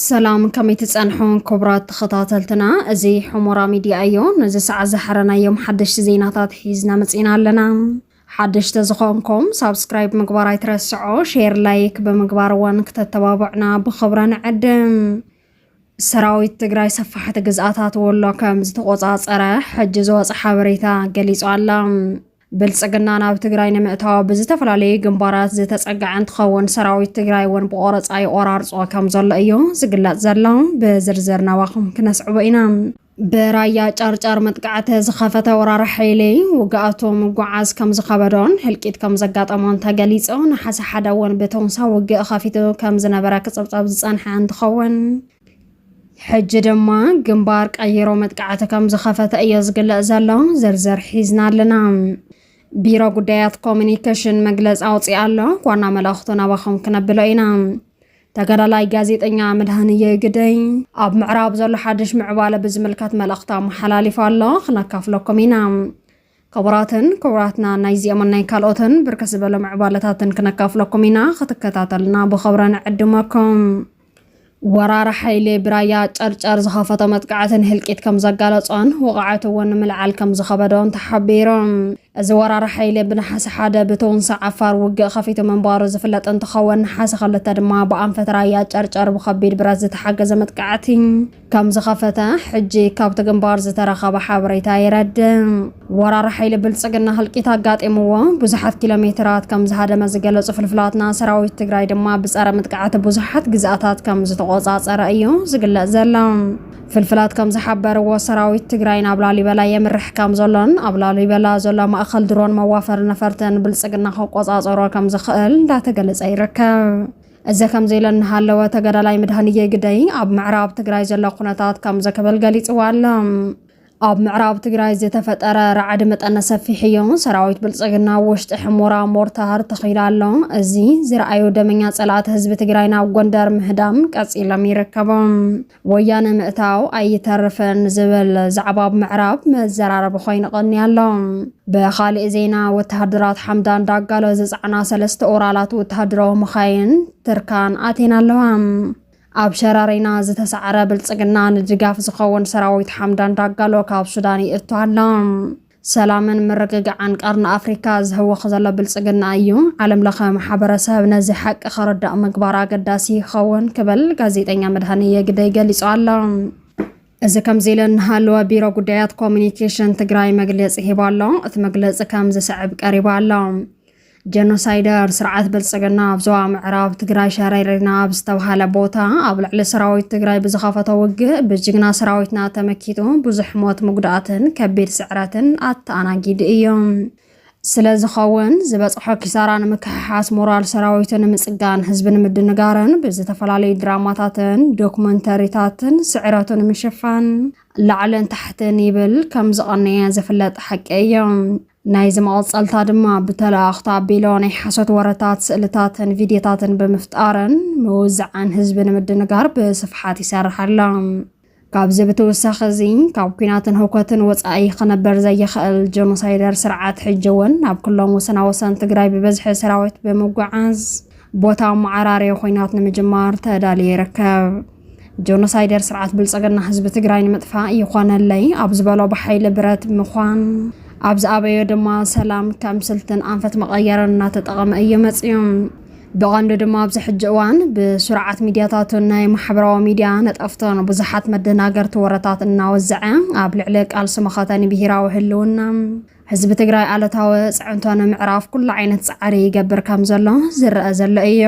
ሰላም ከመይ ትጸንሑ ክቡራት ተኸታተልትና፣ እዚ ሑሞራ ሚድያ እዩ። ነዚ ሰዓት ዝሓረናዮም ሓደሽቲ ዜናታት ሒዝና መጺና ኣለና። ሓደሽቲ ዝኾንኩም ሳብስክራይብ ምግባር ኣይትረስዑ፣ ሼር ላይክ ብምግባር እውን ክተተባብዑና ብኽብረ ንዕድም። ሰራዊት ትግራይ ሰፋሕቲ ግዝኣታት ወሎ ከም ዝተቆፃፀረ ሕጂ ዝወፀ ሓበሬታ ገሊፁ ኣላ። ብልፅግና ናብ ትግራይ ንምእታው ብዝተፈላለዩ ግንባራት ዝተፀገዐ እንትኸውን ሰራዊት ትግራይ እውን ብቆረፃ ይቆራርፆ ከም ዘሎ እዩ ዝግለፅ ዘሎ ብዝርዝር ናባኹም ክነስዕቦ ኢና ብራያ ጫርጫር መጥቃዕቲ ዝኸፈተ ወራሪ ሓይሊ ውግኣቱ ምጓዓዝ ከም ዝኸበዶን ህልቂት ከም ዘጋጠሞን ተገሊጹ። ነሓሰ ሓደ እውን ብተውንሳ ውግእ ኸፊቱ ከም ዝነበረ ክጸብጸብ ዝጸንሐ እንትኸውን ሕጂ ድማ ግንባር ቀይሮ መጥቃዕቲ ከም ዝኸፈተ እዮ ዝግለጽ ዘሎ። ዝርዝር ሒዝና ኣለና። ቢሮ ጉዳያት ኮሚኒኬሽን መግለፂ ኣውፅኣ ኣሎ። ዋና መልእኽቱ ናባኹም ክነብሎ ኢና። ተጋዳላይ ጋዜጠኛ መድሃንየ ግደይ ኣብ ምዕራብ ዘሎ ሓድሽ ምዕባለ ብዝምልከት መልእኽቲ ኣመሓላሊፉ ኣሎ ክነካፍለኩም ኢና ክቡራትን ክቡራትና ናይዚኦምን ናይ ካልኦትን ብርክት ዝበሉ ምዕባለታትን ክነካፍለኩም ኢና ክትከታተልና ብኸብረ ንዕድመኩም ወራር ሓይሊ ብራያ ጨርጨር ዝኸፈቶ መጥቃዕትን ህልቂት ከም ዘጋለጾን ወቕዓት እውን ንምልዓል ከም ዝኸበዶን ተሓቢሮም እዚ ወራሪ ሓይሊ ብነሓሰ ሓደ ብተውንሳ ዓፋር ውግእ ከፊቱ ምንባሩ ዝፍለጥ እንትኸውን ነሓሰ ክልተ ድማ ብኣንፈት ራያ ጨርጨር ብከቢድ ብረት ዝተሓገዘ መጥቃዕቲ ከም ዝኸፈተ ሕጂ ካብቲ ግንባር ዝተረኸበ ሓበሬታ የረድእ። ወራሪ ሓይሊ ብልፅግና ህልቂት ኣጋጢምዎ ብዙሓት ኪሎ ሜትራት ከም ዝሃደመ ዝገለፁ ፍልፍላትና ሰራዊት ትግራይ ድማ ብፀረ ምጥቃዕቲ ብዙሓት ግዝኣታት ከም ዝተቆፃፀረ እዩ ዝግለፅ ዘሎ። ፍልፍላት ከም ዝሓበርዎ ሰራዊት ትግራይ ናብ ላሊበላ የምርሕ ከም ዘሎን ኣብ ላሊበላ ዘሎ ማእኸል ድሮን መዋፈሪ ነፈርቲ ንብልፅግና ክቆፃፀሮ ከም ዝኽእል እንዳተገለፀ ይርከብ። እዚ ከምዚ ኢለ እናሃለወ ተጋዳላይ መድሃንዬ ግደይ ኣብ ምዕራብ ትግራይ ዘሎ ኩነታት ከምዚ ክብል ገሊፅዎ ኣሎ። ኣብ ምዕራብ ትግራይ ዝተፈጠረ ራዕዲ መጠነ ሰፊሕ እዩ። ሰራዊት ብልፅግና ኣብ ውሽጢ ሕሞራ ሞርታር ተኺሉ ኣሎ። እዚ ዝረኣዩ ደመኛ ፀላእቲ ህዝቢ ትግራይ ናብ ጎንደር ምህዳም ቀፂሎም ይርከቦም። ወያነ ምእታው ኣይተርፍን ዝብል ዛዕባ ኣብ ምዕራብ መዘራረቢ ኮይኑ ቀኒ ኣሎ። ብኻሊእ ዜና ወተሃደራት ሓምዳን ዳጋሎ ዝፀዕና ሰለስተ ኦራላት ወተሃደራዊ መኻይን ትርካን ኣቴን ኣለዋ። ኣብ ሸራሪና ዝተሳዕረ ብልፅግና ንድጋፍ ዝኸውን ሰራዊት ሓምዳን ዳጋሎ ካብ ሱዳን ይእቱ ኣሎ። ሰላምን ምርግጋዕን ቀርኒ ኣፍሪካ ዝህወኽ ዘሎ ብልፅግና እዩ። ዓለም ለኸ ማሕበረሰብ ነዚ ሓቂ ከረዳእ ምግባር ኣገዳሲ ይኸውን ክብል ጋዜጠኛ መድሃንየ ግደይ ገሊጹ ኣሎ። እዚ ከምዚ ኢለ እናሃለወ ቢሮ ጉዳያት ኮሚኒኬሽን ትግራይ መግለፂ ሂቡ ኣሎ። እቲ መግለፂ ከም ዝስዕብ ቀሪቡ ኣሎ። ጀኖሳይደር ስርዓት ብልፅግና ኣብ ዞባ ምዕራብ ትግራይ ሸረሪና ኣብ ዝተብሃለ ቦታ ኣብ ልዕሊ ሰራዊት ትግራይ ብዝኸፈቶ ውግእ ብጅግና ሰራዊትና ተመኪቱ ብዙሕ ሞት ምጉዳእትን ከቢድ ስዕረትን ኣተኣናጊዱ እዩ። ስለ ዝኸውን ዝበፅሖ ኪሳራ ንምክሕሓስ ሞራል ሰራዊቱ ንምፅጋን ህዝቢ ንምድንጋርን ብዝተፈላለዩ ድራማታትን ዶክመንተሪታትን ስዕረቱ ንምሽፋን ላዕልን ታሕትን ይብል ከም ዝቐነየ ዝፍለጥ ሓቂ እዩ። ናይዚ መቐጸልታ ድማ ብተለኣኽቲ ኣቢሎ ናይ ሓሶት ወረታት፣ ስእልታትን ቪድዮታትን ብምፍጣርን ምውዝዓን ህዝቢ ንምድንጋር ብስፍሓት ይሰርሕ ኣሎ። ካብዚ ብትውሳኺ እዚ ካብ ኩናትን ህውከትን ወፃኢ ክነበር ዘይኽእል ጀኖሳይደር ስርዓት ሕጂ እውን ናብ ኩሎም ወሰና ወሰን ትግራይ ብበዝሒ ሰራዊት ብምጓዓዝ ቦታ መዓራርዮ ኮይናት ንምጅማር ተዳልዮ ይርከብ። ጆኖሳይደር ስርዓት ብልፅግና ህዝቢ ትግራይ ንምጥፋእ ይኾነለይ ኣብ ዝበሎ ብሓይሊ ብረት ምዃን ኣብ ዝኣበዮ ድማ ሰላም ከም ስልትን ኣንፈት መቐየርን እናተጠቐመ እዩ መፅዩ። ብቐንዱ ድማ ኣብዚ ሕጂ እዋን ብስርዓት ሚዲያታቱን ናይ ማሕበራዊ ሚዲያ ነጠፍቶን ብዙሓት መደናገርቲ ወረታት እናወዘዐ ኣብ ልዕሊ ቃልሲ መኸተኒ ብሄራዊ ህልውና ህዝቢ ትግራይ ኣለታዊ ፅዕንቶ ንምዕራፍ ኩሉ ዓይነት ፃዕሪ ይገብር ከም ዘሎ ዝረአ ዘሎ እዩ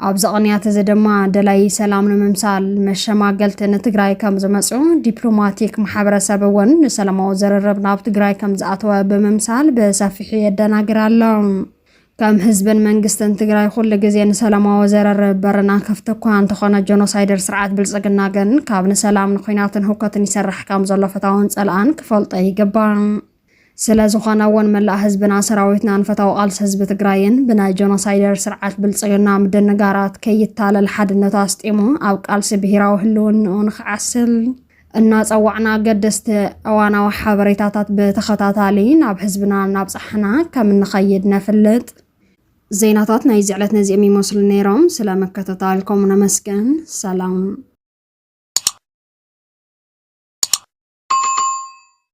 ኣብዚ ቅንያት እዚ ድማ ደላይ ሰላም ንምምሳል መሸማገልቲ ንትግራይ ከም ዝመፁ ዲፕሎማቲክ ማሕበረሰብ እውን ንሰላማዊ ዝርርብ ናብ ትግራይ ከም ዝኣተወ ብምምሳል ብሰፊሑ የደናግር ኣሎ። ከም ህዝብን መንግስትን ትግራይ ኩሉ ግዜ ንሰላማዊ ዘረርብ በርና ክፍቲ እኳ እንተኾነ ጆኖሳይደር ስርዓት ብልፅግና ግን ካብ ንሰላም ንኩናትን ሁከትን ይሰርሕ ከም ዘሎ ፈታውን ፀላእን ክፈልጦ ይግባእ። ስለ ዝኾነ እውን መላእ ህዝብና ሰራዊትናን ፈታዊ ቃልሲ ህዝቢ ትግራይን ብናይ ጆኖሳይደር ስርዓት ብልፅግና ምድንጋራት ከይታለል ሓድነቱ ኣስጢሙ ኣብ ቃልሲ ብሄራዊ ህልውንኡ ንክዓስል እናፀዋዕና ኣገደስቲ እዋናዊ ሓበሬታታት ብተኸታታሊ ናብ ህዝብና እናብፃሕና ከም እንኸይድ ነፍልጥ። ዜናታት ናይዚ ዕለት ነዚኦም ይመስሉ ነይሮም። ስለ ምክትታልኩም ነመስገን። ሰላም